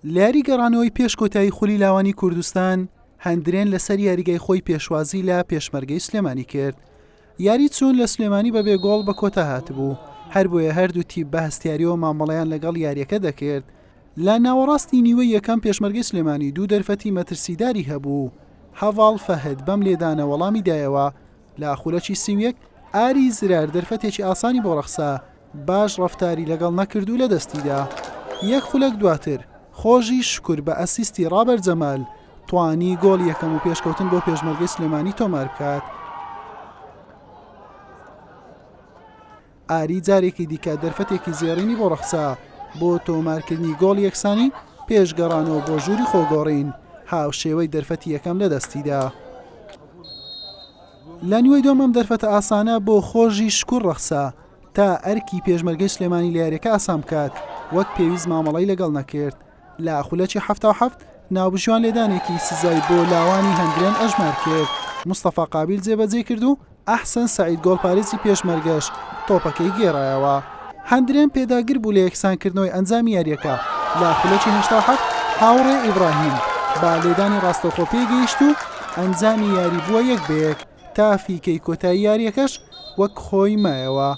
لە یاری گەڕانەوەی پێش کۆتایی خولی لاوانی کوردستان هەندرێن لەسەر یاریگای خۆی پێشوازی لە پێشمەرگەی سلێمانی کرد یاری چوون لە سلێمانی بە بێگۆڵ بە کۆتا هاتبوو هەر بۆیە هەردوو تی بە هەستیاریەوە مامەڵیان لەگەڵ یاریەکە دەکرد لە ناوەڕاستی نیوە یەکەم پێشمەرگەی سلێمانی دوو دەرفەتی مەترسیداری هەبوو هەواڵ فەهد بەم لێدانە وەڵامی دایەوە لە خولەکی سیویەک ئاری زرار دەرفەتێکی ئاسانی بۆ ڕەخسا باش ڕەفتاری لەگەڵ نەکردو لە دەستیدا یەک خولەک دواتر خۆژی شکور بە ئەسیستی ڕابەر جەمال توانی گۆڵی یەکەم و پێشکەوتن بۆ پێشمەرگەی سلێمانی تۆمار بکات. ئاری جارێکی دیکە دەرفەتێکی زێڕینی بۆ ڕەخسا بۆ تۆمارکردنی گۆڵی یەکسانی پێش گەڕانەوە بۆ ژووری خۆگۆڕین هاوشێوەی دەرفەتی یەکەم لە دەستیدا. لە نیوەی دووەم ئەم دەرفەتە ئاسانە بۆ خۆژی شکور ڕەخسا، تا ئەرکی پێشمەرگەی سلێمانی لە یاریەکە ئاسان بکات وەک پێویست مامەڵی لەگەڵ نەکرد لە خولەکی هەفتا هەفت ناوبژیوان لێدانێکی سزای بۆ لاوانی هەندرێن ئەژمار کرد مستەفا قابیل جێبەجێ کرد و ئەحسن سعید گۆڵپارێزی پێشمەرگەش تۆپەکەی گێڕایەوە هەندرێن پێداگر بوو لە یەکسانکردنەوەی ئەنجامی یاریەکە لە خولەکی هەشتا هەفت هاوڕێ ئیبراهیم بە لێدانی ڕاستەوخۆ پێگەیشت و ئەنجامی یاری بووە یەک بەیەک تا فیکەی کۆتایی یارییەکەش وەک خۆی مایەوە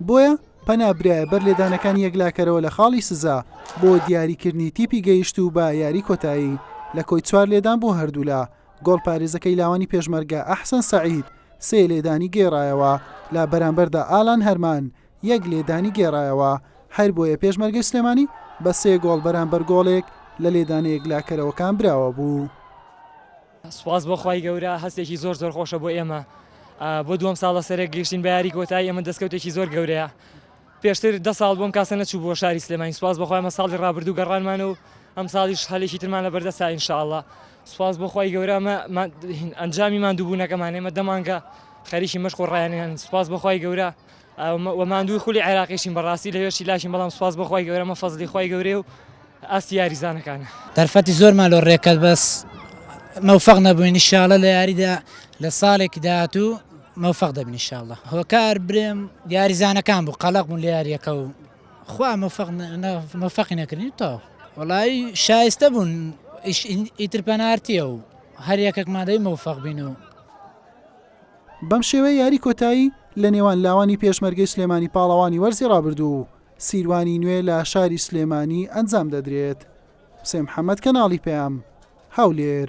بۆیە پەنا برایە بەر لێدانەکانی یەکلاکەرەوە لە خاڵی سزا بۆ دیاریکردنی تیپی گەیشت و بە یاری کۆتایی لە کۆی چوار لێدان بۆ هەردوولا گۆڵ پارێزەکەی لاوانی پێشمەرگە ئەحسەن سەعید سێ لێدانی گێڕایەوە لە بەرامبەردا ئالان هەرمان یەک لێدانی گێڕایەوە هەر بۆیە پێشمەرگەی سلێمانی بە سێ گۆڵ بەرامبەر گۆڵێک لە لێدانە یەکلاکەرەوەکان براوە بوو. سوپاس بۆ خوای گەورە هەستێکی زۆر زۆر خۆشە بۆ ئێمە بۆ دووەم ساڵ لە سەرێک گەیشتین بە یاری کۆتایی ئەمە دەستکەوتێکی زۆر گەورەیە پێشتر دە ساڵ بۆم کاسە نەچوو بۆ شاری سلێمانی سوپاس بەخوای مە ساڵی ڕابردوو گەڕانمان و ئەم ساڵیش هەلێکی ترمان لە بەردەسا ئینشاءله سوپاس بۆ خی گەورەمە ئەنجامی مادووبوونەکەمان ئێمە دەمانگە خەریکی مەشق و ڕایانیان سوپاس بەخوای گەورە وە ماندووی خولی عێراقیشین بەڕاستی لەوێ شیلاشین بەڵام سوپاس بۆ خوای گەورە ئەمە فەزڵی خوای گەورەیە و ئاستی یاریزانەکانە. دەرفەتی زۆرمان لۆ رێکرد بەس مەوفەق نەبووین ان شاء اللە لە یاریدا لە ساڵێکی داهاتوو مەوفەق دەبین ان شاء اللە هۆکار برێم یاریزانەکان بوو قەڵەق بوون لە یاریەکە و خوا مەوفەق مەوفەقی نەکردین تاو وەڵایی شایستە بوون ئیتر پەنارتیە و هەر یەکێکمان دەی مەوفەق بین و بەم شێوەیە یاری کۆتایی لە نێوان لاوانی پێشمەرگەی سلێمانی پاڵەوانی وەرزی ڕابردوو و سیروانی نوێ لە شاری سلێمانی ئەنجام دەدرێت. حوسێن محەمەد کەناڵی پەیام، هەولێر.